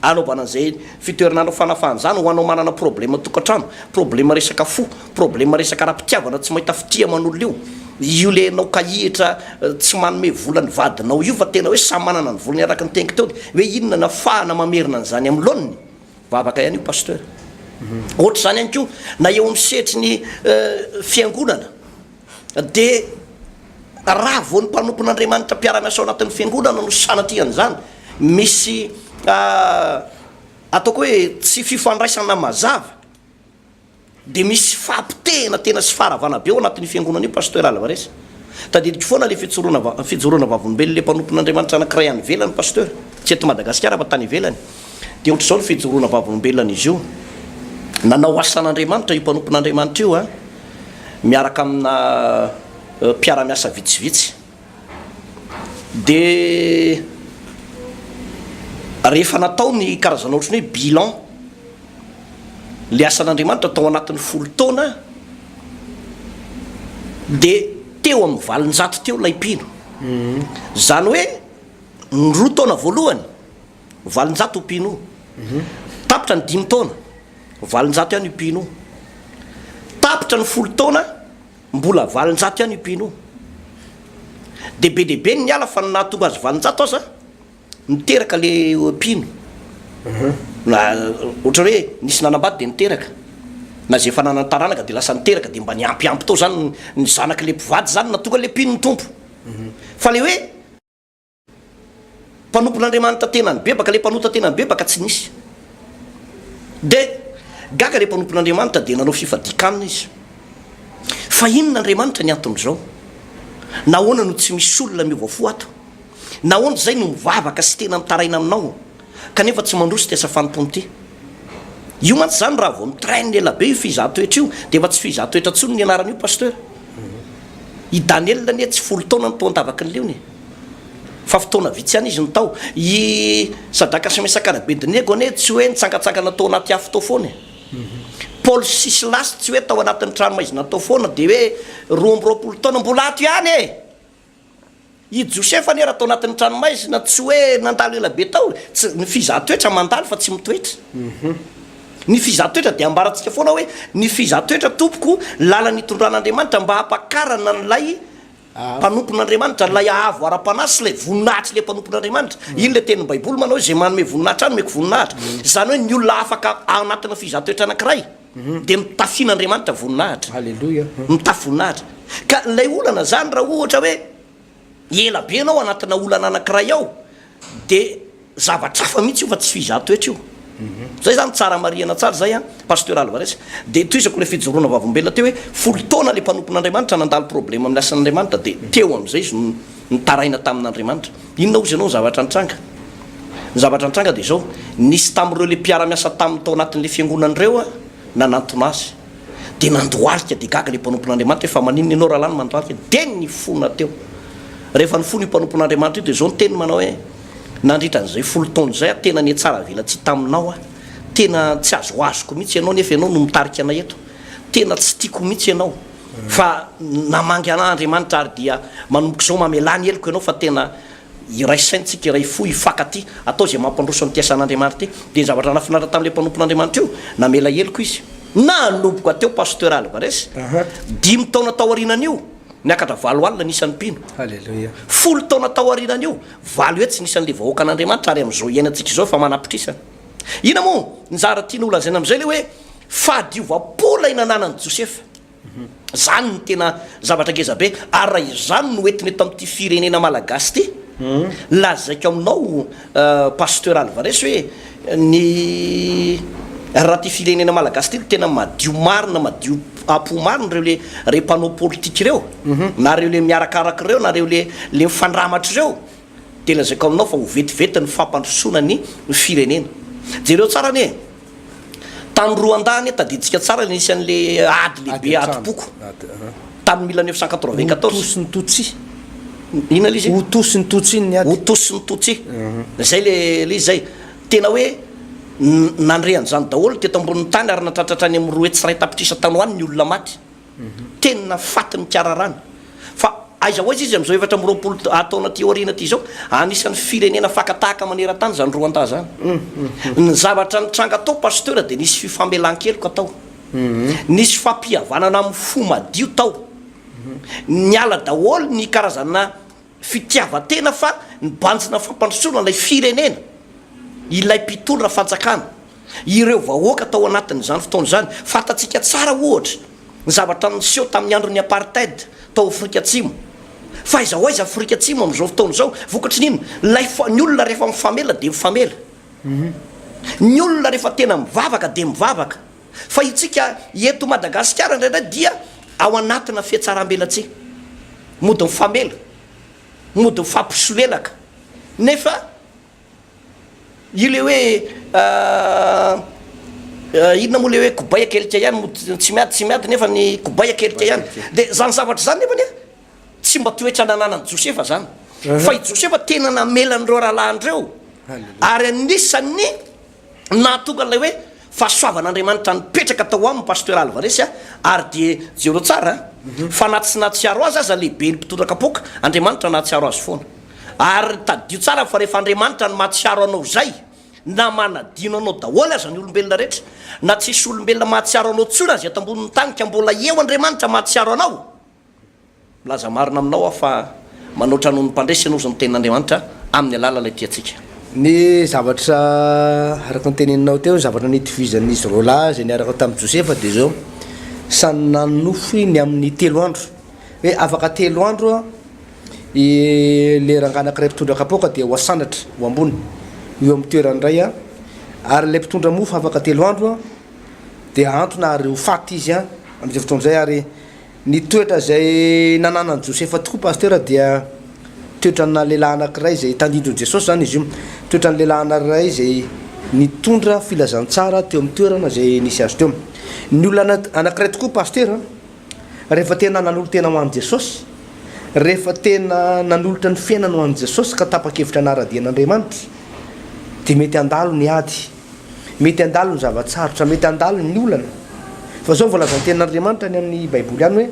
anaovana an'izay fitoherin'andron'ny fanafahana izany ho anao manana problème tokantrano, problème resaka fo, Problème resaka ara-pitiavana tsy mahita fitia aman'olona io, io le enao kahihitra tsy manome vola ny vadinao io fa tena hoe samy manana ny volany araka ny teniko teo hoe inona no afahana mamerina an'izany amin'ny laoniny? Vavaka ihany io Pasteur. Ohatr'izany ihany koa na eo amin'ny sehatry ny fiangonana dia raha vao ny mpanompon'Andriamanitra mpiara-miasa ao anatin'ny fiangonana no sanatria an'izany misy ataoko hoe tsy fifandraisana mazava, Dia misy fahapotehina tena sy faharavana be ao anatin'io fiangonana io Pasteur Alvarez. Tadidiko foana ilay fitsoroana va, fijoroana vavolombelona ilay mpanompon'Andriamanitra anankiray any ivelany Pasteur, tsy eto Madagasikara fa tany ivelany. Dia ohatr'izao ny fijoroana vavolombelonan'izy io, nanao asan'Andriamanitra io mpanompon'Andriamanitra io an, miaraka amina mpiara-miasa vitsivitsy. Dia rehefa natao ny karazana ohatran'ny hoe bilan ilay asan'Andriamanitra tao anatin'ny folo taona dia teo amin'ny valonjato teo ilay mpino. Izany hoe ny roa taona voalohany valonjato io mpino io. Tapitra ny dimy taona, valonjato ihany io mpino io. Tapitra ny folo taona. Mbola valonjato ihany io mpino io. Dia be dia be ny niala fa ny nahatonga azy valonjato aza niteraka le mpino. Na ohatra hoe nisy nanambady dia niteraka. Na izay efa nanana taranaka dia lasa niteraka dia mba niampy ampy tao izany ny zanaky le mpivady izany nahatonga le mpino nitombo. Fa le hoe. mpanompon'Andriamanitra tena nibebaka, ilay mpanota tena nibebaka tsy nisy. Dia gaga ilay mpanompon'Andriamanitra dia nanao fifadian-kanina izy. Fa inona Andriamanitra ny anton'izao? Nahoana no tsy misy olona miova fo ato? Nahoana izay no mivavaka sy tena mitaraina aminao kanefa tsy mandroso ity asa fanompoana ity? Io mantsy izany raha vao nitrain ela be io fihizan-toetra io dia efa tsy fihizan-toetra intsony ny anaran'io pasteur. I Daniel anie tsy folo taona no toa an-tavaky ny leony e. Fa fotoana vitsy ihany izy no tao. I Sadaka sy Mesaka ary Abedinego anie tsy hoe nitsangantsangana tao anaty afo tao foana e. Paoly sy Silasy tsy hoe tao anatin'ny tranomaizina tao foana dia hoe roa amby roapolo taona mbola ato ihany e. I Josefa anie raha tao anatin'ny tranomaizina tsy hoe nandalo ela be tao e. Tsy, ny fizahan-toetra mandalo fa tsy mitoetra. Ny fizahan-toetra dia ambarantsika foana hoe ny fizahan-toetra tompoko ny lalana itondran'Andriamanitra mba hampakarana an'ilay Mpanompon'Andriamanitra, ilay haavo ara-panahy sy ilay voninahitry ilay mpanompon'Andriamanitra. Iny ilay tenin'ny Baiboly manao hoe, Izay manome voninahitra ahy nomeko voninahitra. Izany hoe ny olona afaka ao anatin'ny fizahatoetra anankiray dia mitafian'Andriamanitra voninahitra. Aleloia. Mitafy voninahitra. Ka ilay olana izany raha ohatra hoe ela be ianao anatinà olana anankiray ao, Dia zavatra hafa mihitsy io fa tsy fizah toetra io. Zay zany tsara marihana tsara zay an, Pasteur Alvarez. Dia tohizako ilay fijoroana vavolombelona teo hoe folo taona ilay mpanompon'Andriamanitra nandalo problème amin'ny asan'Andriamanitra dia teo amin'izay izy no nitaraina tamin'Andriamanitra. Inona hozy ianao ny zavatra nitranga? Ny zavatra nitranga dia izao, nisy tamin'ireo ilay mpiara-miasa taminy tao anatin'ilay fiangonana ireo nanantona azy. dia nandohalika, dia gaga ilay mpanompon'Andriamanitra hoe, fa maninona ianao rahalahy no mandohalika? Dia nifona teo. Rehefa nifona io mpanompon'Andriamanitra io, dia izao ny teniny manao hoe, nandritra an'izay folo taona izay aho tena nihatsara velatsihy taminao aho, tena tsy azoazoko mihitsy ianao nefa ianao no mitarika anay eto, tena tsy tiako mihitsy ianao, fa namangy an'Andriamanitra ary dia manomboka izao mamelà ny heloko ianao fa tena iraisaintsika iray fo hifankatia hatao izay mampandroso amin'ity asan'Andriamanitra ity. Dia ny zavatra nahafinaritra tamin'ilay mpanompon'Andriamanitra io, namela heloka izy. Nanomboka teo Pasteur Álvarez, dimy taona taorianan'io, niakatra valo alina ny isan'ny mpino. Haleloia! Folo taona taorianan'io, valo hetsy ny isan'ilay vahoakan'Andriamanitra, ary amin'izao iainantsika izao efa manapitrisany. Inona moa? Nizara tiany holazaina amin'izay ilay hoe fahadiovam-po ilay nananan'i Josefa. Izany no tena zavatra ngeza be ary raha izany no entiny eto amin'ity firenena malagasy ity, lazaiko aminao Pasteur Alvarez hoe ny raha ity firenena malagasy ity no tena madio marina, madio apo marina ireo le rey mpanao politika ireo na ireo le miarakaraka ireo na ireo le le mifandramatra ireo dia lazaiko aminao fa ho vetivety ny fampandrosoana ny firenena. Jereo tsara anie e! Tany Rwanda anie tadidintsika tsara ny isan'ilay ady lehibe adim-poko tamin'ny mille neuf cent quatre-vingt-quatorze. Hutu sy ny Tutsi. Inona ilay izy? Hutu sy ny Tutsi ny ady. Hutu sy ny Tutsi. Izay ilay ilay izy izay. Tena hoe nandre an'izany daholo teto ambonin'ny tany ary nahatratra hatrany amin'ny roa hetsy sy iray tapitrisa tany ho any ny olona maty. Tena faty nikararana. Fa aiza ho aiza izy amin'izao efatra amby roapolo taona aty aoriana aty izao? Anisan'ny firenena faka tahaka maneran-tany izany Rwanda izany. Ny zavatra nitranga tao Pasteur dia nisy fifamelan-keloka tao. Nisy fampihavanana amin'ny fo madio tao. Niala daholo ny karazana fitiavan-tena fa nibanjina fampandrosoana ilay firenena, ilay mpitondra fanjakana, ireo vahoaka tao anatin'izany fotoana izany. Fantatsika tsara ohatra ny zavatra niseho tamin'ny andron'ny apartheid tao Afrika Atsimo. Fa aiza ho aiza Afrika Atsimo amin'izao fotoana izao? Vokatry ny inona? Ilay fa, ny olona rehefa mifamela dia mifamela. Ny olona rehefa tena mivavaka dia mivavaka. Fa itsika eto Madagasikara indraindray dia ao anatina fihatsarambelatsihy, mody mifamela, mody mifampisolelaka nefa ilay hoe inona moa ilay hoe kobay akelika ihany no tsy miady tsy miady nefa ny kobay akelika ihany dia izany zavatra izany nefany a tsy mba toetra nananan'i Josefa izany fa i Josefa tena namela an'ireo rahalahiny ireo ary anisan'ny Nahatonga an'ilay hoe fahasoavan'Andriamanitra nipetraka tao aminy Pasteur Alvarez a, ary dia jereo tsara a, fa na tsy nahatsiaro azy aza lehibe ny mpitondra kapoaka, Andriamanitra nahatsiaro azy foana. Ary tadidio tsara fa rehefa Andriamanitra no mahatsiaro anao izay, na manadino anao daholo aza ny olombelona rehetra, na tsisy olombelona mahatsiaro anao intsony aza eto ambonin'ny tany ka mbola eo Andriamanitra mahatsiaro anao, Milaza marina aminao aho fa manoatra noho ny mpandresy ianao izao ny tenin'Andriamanitra amin'ny alalan'ilay tiantsika. Ny zavatra araka ny teneninao teo, ny zavatra nitovizan'izy roa lahy izay niaraka tamin'i Josefa dia izao, samy nanonofy ny amin'ny telo andro. Hoe afaka telo andro ilay rangahy anankiray mpitondra kapoaka dia ho asandratra ho ambony eo amin'ny toerany indray, ary ilay mpitondra mofo afaka telo andro dia hahantona ary ho faty izy amin'izay fotoana izay ary Ny toetra izay nananan'i Josefa tokoa Pasteur dia toetranà lehilahy anankiray izay tandindon'i Jesosy izany izy io. Toetran'ny lehilahy anankiray izay nitondra filazantsara teo amin'ny toerana izay nisy azy teo. Ny olona anankiray tokoa Pasteur a, rehefa tena nanolo-tena ho an'i Jesosy, rehefa tena nanolotra ny fiainany ho an'i Jesosy ka tapa-kevitra hanara-dia an'Andriamanitra dia mety handalo ny ady. Mety handalo ny zava-tsarotra, mety handalo ny olana. Fa izao no voalazan'ny Tenin'Andriamanitra any amin'ny Baiboly any hoe,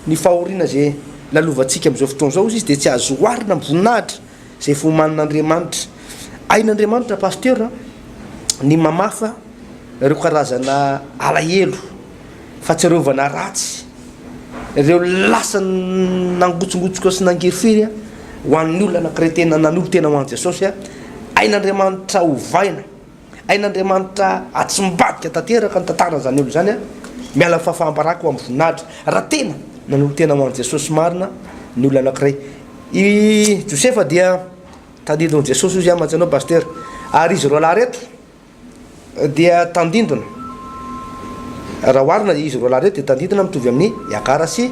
Ny fahoriana izay lalovantsika amin'izao fotoana izao, hoy Izy, dia tsy azo oharina amin'ny voninahitra izay efa omanin'Andriamanitra. Hain'Andriamanitra, Pasteur, ny mamafa ireo karazana alahelo. Fahatsiarovana ratsy ireo lasa nangotsongotsoka sy nangery firy ho an'ny olona anankiray tena nanolo-tena ho an'i Jesosy. Ain'Andriamanitra ovaina, ain'Andriamanitra atsimbadika tanteraka ny tantaran'izany olona izany, miala ny fahafaham-baraka ho amin'ny voninahitra, raha tena nanolo-tena ho an'i Jesosy marina ny olona anankiray. I Josefa dia tadidin'i Jesosy hoy izy, aman-tsy ianao Pasitera. Ary izy roalahy ireto dia tandindona. Raha oharina izy roalahy ireo dia tandindona mitovy amin'i Hagara sy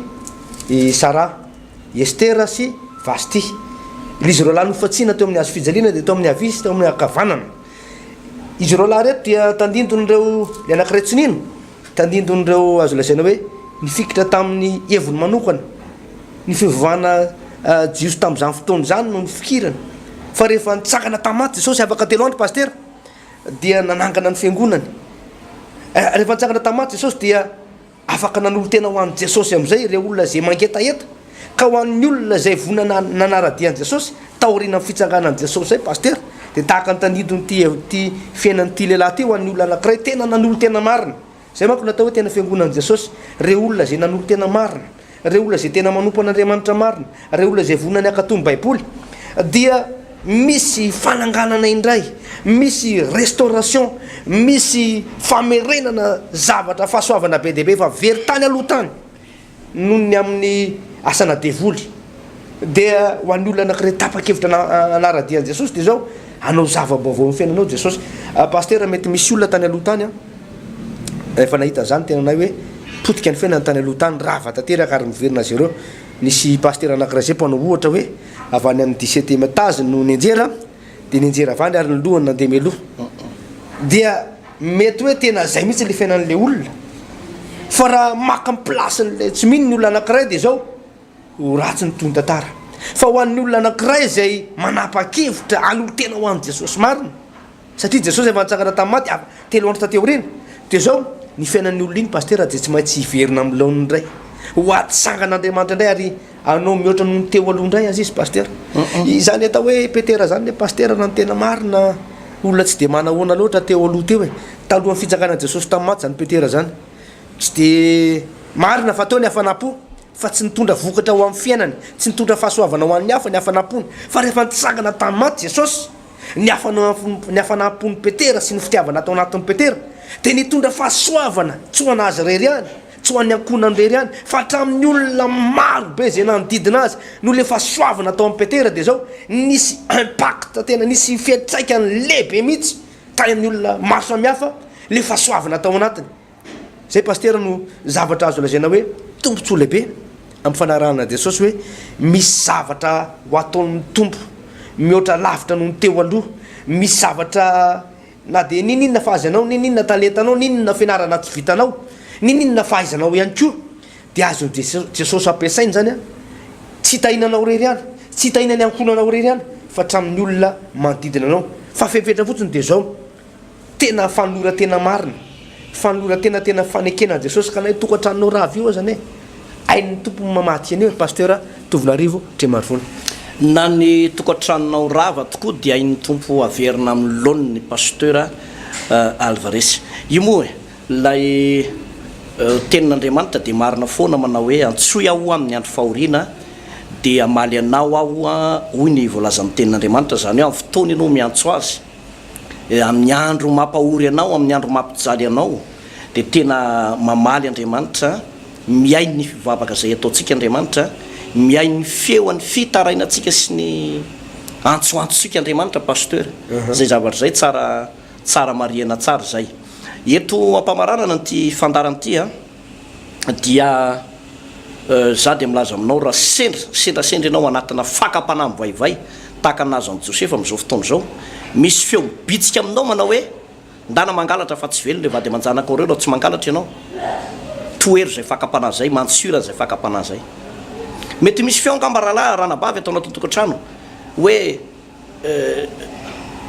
i Saraha, i Estera sy Vashti. Ilay izy roalahy nofantsihina teo amin'ny hazofijaliana dia teo amin'ny havia sy teo amin'ny ankavanana. Izy roalahy ireto dia tandindon'ireo, ilay anankiray tsy nino, Tandindon'ireo azo lazaina hoe nifikitra tamin'ny heviny manokana ny fivavahana jiosy tamin'izany fotoana izany no nifikirany fa rehefa nitsangana tamin'ny maty Jesosy afaka telo andro Pasitera dia nanangana ny fiangonany. Rehefa nitsangana tamin'ny maty Jesosy dia afaka nanolo-tena ho an'i Jesosy amin'izay ireo olona izay mangetaheta. Ka ho an'ny olona izay voa nanara-dia an'i Jesosy, taorianan'ny fitsanganan'i Jesosy izay Pasitera, dia tahaka ny tanidin'ity ity fiainan'ity lehilahy ity ho an'ny olona anankiray tena nanolo-tena marina. Izay manko no atao hoe tena fiangonan'i Jesosy, ireo olona izay nanolo-tena marina, ireo olona izay tena manompo an'Andriamanitra marina, ireo olona izay vonona ny hankatò ny Baiboly, dia misy fananganana indray, misy restauration, misy famerenana zavatra, fahasoavana be dia be, fa very tany aloha tany. noho ny amin'ny asana devoly. Dia ho an'ny olona anankiray tapa-kevitra hanara-dia an'i Jesosy dia izao, hanao zava-baovao amin'ny fiainanao Jesosy. Pasitera, mety misy olona tany aloha tany an, efa nahita an'izany ny tenanay hoe potika ny fiainany tany aloha tany, rava tanteraka ary miverina azy ireo. Nisy pasitera anankiray izay mpanao ohatra hoe avy any amin'ny dix-septième étage no nianjera, Dia nianjera avandry ary ny lohany nandeha mialoha. Dia mety hoe tena izay mihitsy ilay fiainan'ilay olona. Fa raha maka ny place-n'ilay tsy mino ny olona anankiray dia izao, ho ratsy ny tohin-tantara. Fa ho an'ny olona anankiray izay manapa-kevitra hanolo-tena ho an'i Jesosy marina, satria Jesosy efa nitsangana tamin'ny maty avy telo andro taty aoriana, dia izao, ny fiainan'io olona iny Pasitera dia tsy maintsy hiverina amin'ny laoniny indray, ho atsangan'Andriamanitra indray ary Anao mihoatra noho ny teo aloha indray aza izy Pasitera. Izany atao hoe Petera izany ilay Pasitera raha ny tena marina olona tsy dia manahoana loatra teo aloha teo e. Talohan'ny fitsanganan'i Jesosy tamin'ny maty izany Petera izany. Tsy dia marina fa teo ny hafanam-po fa tsy nitondra vokatra ho amin'ny fiainany, tsy nitondra fahasoavana ho an'ny hafa ny hafanam-pony. Fa rehefa nitsangana tamin'ny maty Jesosy, ny hafanam-po, ny hafanam-pon'i Petera sy ny fitiavana tao anatin'i Petera dia nitondra fahasoavana tsy ho an'azy irery ihany, Tsy ho an'ny ankohonany irery ihany fa hatramin'ny olona maro be izay nanodidina azy noho ilay fahasoavana tao amin'i Petera dia izao nisy impact tena nisy fiantraikany lehibe mihitsy tany amin'ny olona maro samihafa ilay fahasoavana tao anatiny. Izay Pasitera no zavatra azo lazaina hoe tombotsoa lehibe amin'ny fanarahana an'i Jesosy hoe misy zavatra ho ataon'ny Tompo mihoatra lavitra noho ny teo aloha, misy zavatra Na dia niniana fa azy anao, niniana talentanao, niniana fianarana tsy vitanao, niniana fahaizanao ihany koa dia azon'i Jesosy ampiasaina izany an! Tsy hitahiana anao irery ihany, tsy hitahiana ny ankohonanao irery ihany fa hatramin'ny olona manodidina anao. Fa fepetra fotsiny dia izao, tena fanoloran-tena marina Fanolorantena tena fanekena an'i Jesosy ka na io tokantranonao rava io azany e! Hain'ny Tompo ny mamatsy an'io, ry Pasteur Tovinarivo Trimarivony. Na ny tokantranonao rava tokoa dia hain'ny Tompo averina amin'ny laoniny, ry Pasteur Alvarez. Io moa e! Ilay Tenin'Andriamanitra dia marina foana manao hoe, Antsoy Aho ho amin'ny andro fahoriana, dia hamaly anao Aho, hoy ny voalazan'ny Tenin'Andriamanitra. Izany hoe amin'ny fotoana ianao miantso Azy. amin'ny andro mampahory anao, amin'ny andro mampijaly anao, dia tena mamaly Andriamanitra, mihaino ny fivavaka izay ataontsika Andriamanitra, mihaino ny feon'ny fitarainantsika sy ny antsoantsika Andriamanitra Pasteur, izay zavatra izay tsara tsara marihana tsara izay. Eto am-pamaranana an'ity fandaharana ity an, dia Izaho dia milaza aminao raha sendra sendrasendra ianao anatina fakam-panahy mivaivay tahaka ny nahazo an'i Josefa amin'izao fotoana izao, misy feo mibitsika aminao manao hoe, Ndana mangalatra fa tsy velona ireo vady aman-janakao ireo raha tsy mangalatra ianao. Tohero izay fakam-panahy izay, mantsio raha izay fakam-panahy izay. Mety misy feo angamba rahalahy, ranabavy ato anatin'ny tokantrano hoe, Eh,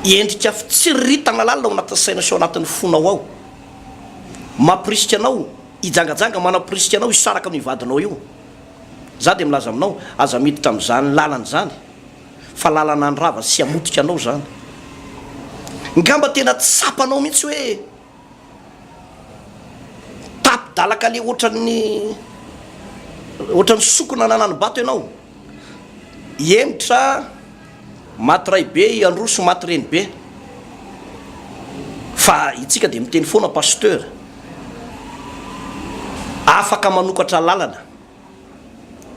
endrika fitsiriritana lalina ao anatin'ny saina sy ao anatin'ny fonao ao. Mampirisika anao hijangajanga, manapirisika anao hisaraka amin'io vadinao io. Za dia milaza aminao, aza miditra amin'izany lalana izany, fa lalana handrava sy hamotika anao izany. Ngamba tena tsapanao mihitsy hoe. Tapi-dalaka le otran'ny otran'ny sokina nanani-bato ianao. Henitra maty ray be i Androso maty reny be. Fa itsika dia miteny foana Pasteur. Afaka manokatra lalana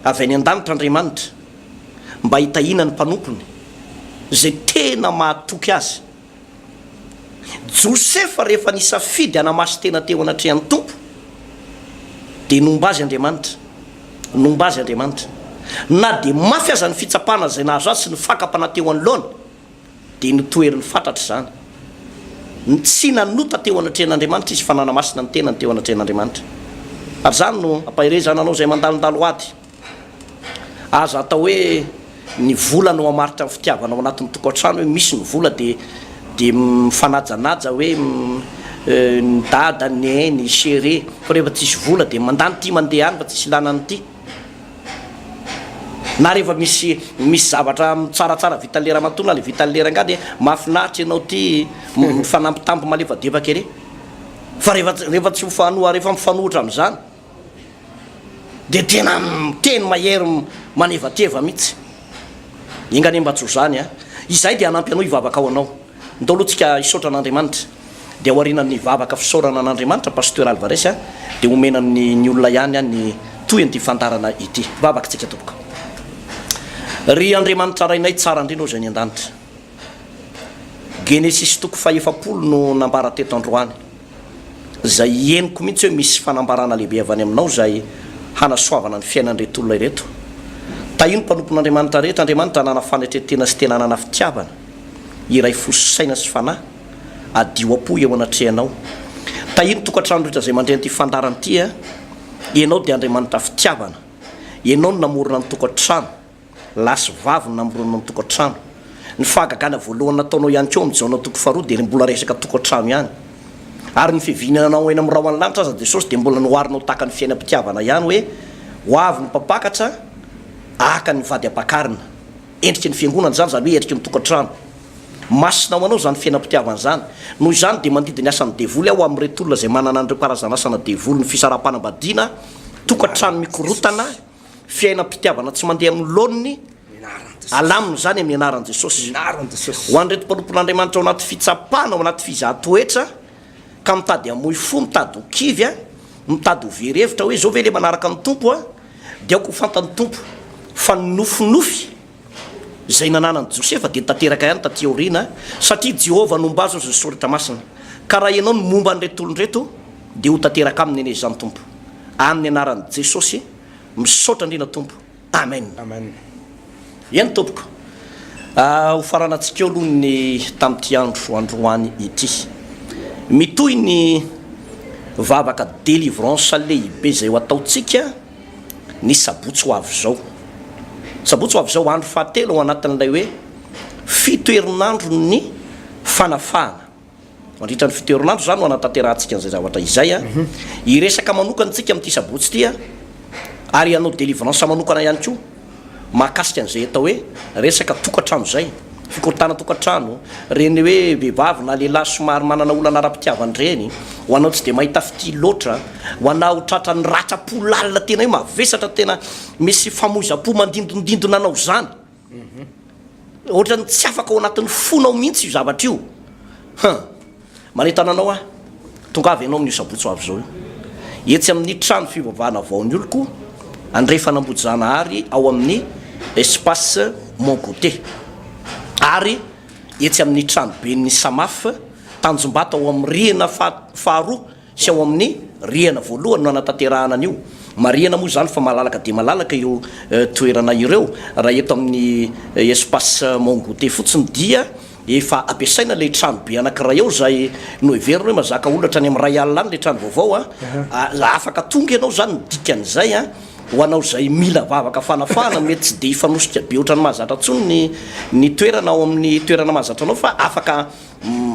avy any an-danitra Andriamanitra mba hitahiana ny mpanompony izay tena mahatoky azy. Josefa rehefa nisafidy hanamasin-tena teo anatrehan'ny Tompo dia nomba azy Andriamanitra, nomba azy Andriamanitra. Na dia mafy aza ny fitsapana izay nahazo azy sy ny fakam-panahy teo anoloany dia notoheriny fatratra izany. Tsy nanota teo anatrehan'Andriamanitra izy fa nanamasina ny tenany teo anatrehan'Andriamanitra. Ary izany no hampaherezana anao izay mandalondalo ady. Aza atao hoe ny vola no mamaritra ny fitiavana ao anatin'ny tokantrano hoe misy ny vola dia dia mifanajanaja hoe ny dada, ny neny, ny chere fa rehefa tsisy vola dia mandany ity mandeha any fa tsisy ilana an'ity na rehefa misy misy zavatra tsaratsara vitan'ny le ramatoa na le vitan'ny le rangahy dia mahafinaritra ianao ity mifanampitamby malefadefaka ery fa rehefa rehefa tsy mifanoha rehefa mifanohitra amin'izany Dia tena miteny mahery manevateva mitsy. Enga anie mba tsy ho zany a. Izay dia hanampy anao hivavaka ho anao. Ndao aloha tsika hisaotra an'Andriamanitra. Dia aoriana ny vavaka fisaorana an'Andriamanitra Pasteur Alvarez a, dia homena ny ny olona ihany a ny tohin'ity fandarana ity. Vavaka tsika tompoko. Ry Andriamanitra Rainay tsara ndrindra ô Zay any andanitra. Genesisy toko faha efapolo no nambara teto androany. izay henoko mihitsy hoe misy fanambarana lehibe avy any aminao izay hanasoavana ny fiainan'ireto olona ireto. Tahio ny mpanompon'Andriamanitra rehetra, Andriamanitra hanana fanetren-tena sy tena hanana fitiavana, hiray fo sy saina sy fanahy, hadio am-po eo anatrehanao. Tahio ny tokantrano rehetra izay mandre an'ity fandaharana ity, Ianao dia Andriamanitra fitiavana, Ianao no namorona ny tokantrano. lahy sy vavy no namorona ny tokantrano. Ny fahagagana voalohany nataonao ihany koa amin'izao anao toko faharoa dia ilay mbola resaka tokantrano ihany. Ary ny fiaviana anao eny amin'ny rahon'ny lanitra aza Jesosy dia mbola noharinao tahaka ny fiainam-pitiavana ihany hoe ho avy ny mpampakatra ahaka ny vady ampakarina. Endriky ny fiangonana izany, izany hoe endriky ny tokantrano. Masina ho anao izany fiainam-pitiavana izany. Noho izany dia mandidy ny asan'ny devoly aho amin'ireto olona izay manana an'ireo karazan'asana devoly ny fisaraham-panambadiana, tokantrano mikorontana, fiainam-pitiavana tsy mandeha amin'ny laoniny, alamino izany amin'ny anaran'i Jesosy. Ho an'ireto mpanompon'Andriamanitra ao anaty fitsapana, ao anaty fizahan-toetra, ka mitady hamoy fo, mitady ho kivy, mitady ho very hevitra hoe izao ve ilay manaraka ny Tompo, dia aoka ho fantan'ny Tompo fa nofinofy izay nananan'i Josefa dia tanteraka ihany tatỳ aoriana, satria Jehovah nombazo azy ny Soratra Masina. Ka raha ianao no momba an'ireto olona ireto, dia ho tanteraka aminy anie izany, Tompo. Amin'ny Anaran'i Jesosy, misaotra indrindra, Tompo. Amena. Eny, Tompoko. Hofaranantsika eo aloha ny tamin'ity andro androany ity. Mitohy ny vavaka delivrance lehibe izay ho ataontsika. ny sabotsy ho avy izao. Sabotsy ho avy izao, andro fahatelo ao anatin'ilay hoe fito herinandron'ny fanafahana. Mandritra ny fito herinandro izany no hanatanterahantsika an'izay zavatra izay. Hiresaka manokana isika amin'ity sabotsy ity ary hanao délivrance manokana ihany koa. mahakasika an'izay atao hoe resaka tokantrano izay, fikorontanana tokantrano, ireny hoe vehivavy na lehilahy somary manana olana ara-pitiavana ireny, ho anao tsy dia mahita fitia loatra, ho anao tratran'ny ratram-po lalina tena hoe mavesatra tena misy famoizam-po mandindondindona anao izany, ohatran'ny tsy afaka ao anatin'ny fonao mihitsy io zavatra io, huh. Manentana anao aho, tongava ianao amin'io sabotsy ho avy izao io, etsy amin'ny trano fivavahana vaon'ny oloko andrefana Ambohitrizahanahary ao amin'ny Espace Mon Goûter ary etsy amin'ny tranoben'ny Samaf Tanjombato ao amin'ny rihana faharoa Tsy ao amin'ny rihana voalohany no hanatanterahana an'io. Marihana moa izany fa malalaka dia malalaka ireo toerana ireo. Raha eto amin'ny Espace Mon Goûter fotsiny dia efa ampiasaina ilay trano be anankiray ao izay noheverina hoe mazaka olona hatrany amin'ny iray alina any ilay trano vaovao. Afaka tonga ianao izany ny dikan'izay. Ho anao izay mila vavaka fanafahana mety tsy dia hifanosika be ohatran'ny mahazatra intsony ny toerana ao amin'ny toerana mahazatra anao fa afaka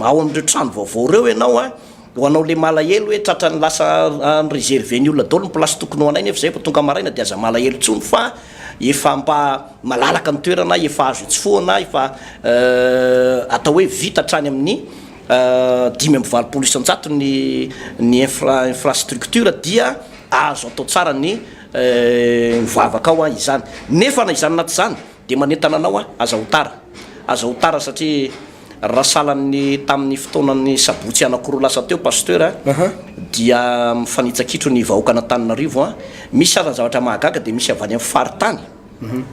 ao amin'ireo trano vaovao ireo ianao. Ho anao le malahelo hoe tratrany lasa an reserve ny olona daolo ny place tokony ho anay nefa zay vao tonga maraina de aza malahelo tsony fa efa mba malalaka ny toerana efa azo itsofohana efa atao hoe vita hatrany amin'ny dimy amby valopolo isanjato ny ny infra infrastructure dia azo atao tsara ny mivavaka ao an izany nefa na izany na tsy izany Dia manentana anao aho, aza ho tara. Aza ho tara satria raha sahalan'ny tamin'ny fotoanan'ny sabotsy anakiroa lasa teo Pasteur a, dia mifanitsakitro ny vahoakan'Antananarivo a. Misy aza zavatra mahagaga dia misy avy any amin'ny faritany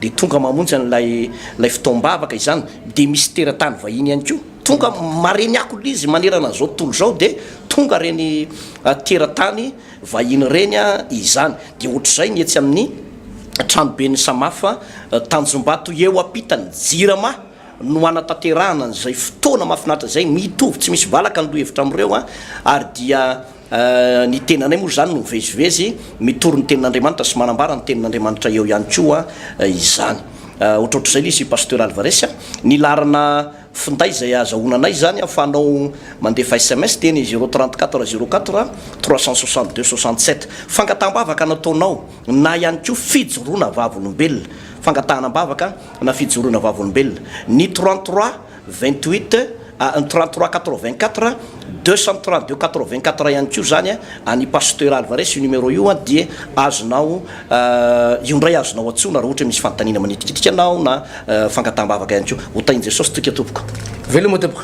dia tonga mamonjy an'ilay ilay fotoam-bavaka izany. Dia misy teratany vahiny ihany koa tonga, maren'iakol'izy manerana an'izao tontolo izao dia tonga ireny teratany. Vahiny ireny izany. Dia ohatr'izay ny etsy amin'ny tranoben'ny Samafa Tanjombato eo ampitan'ny Jirama no hanatanterahana an'izay fotoana mahafinaritra izay, mitovy tsy misy valaka ny lohahevitra amin'ireo ary dia ny tenanay moa izany no mivezivezy mitory ny tenin'Andriamanitra sy manambara ny tenin'Andriamanitra eo ihany koa izany. Ohatrohatr'izay ilay izy i Pasteur Alvarez. Ny laharana. Finday izay ahazahoana anay izany an, fa anao mandefa sms dia ny zéro trente quatre zéro quatre trois cent soixante deux soixante sept. Fangataham-bavaka nataonao na ihany koa fijoroana vavolombelona, fangatahana am-bavaka na fijoroana vavolombelona, ny trente trois vingt huit a, ny trente trois quatre vingt quatre deux cent trente deux quatre vingt quatre ihany koa izany an, an'i Pasteur Alvarez io numéro io an dia azonao Io indray azonao antsoina raha ohatra hoe misy fanontaniana manitikitika anao na fangataham-bavaka ihany koa. Ho tahin'i Jesosy toika tompoko. Veloma tompoko.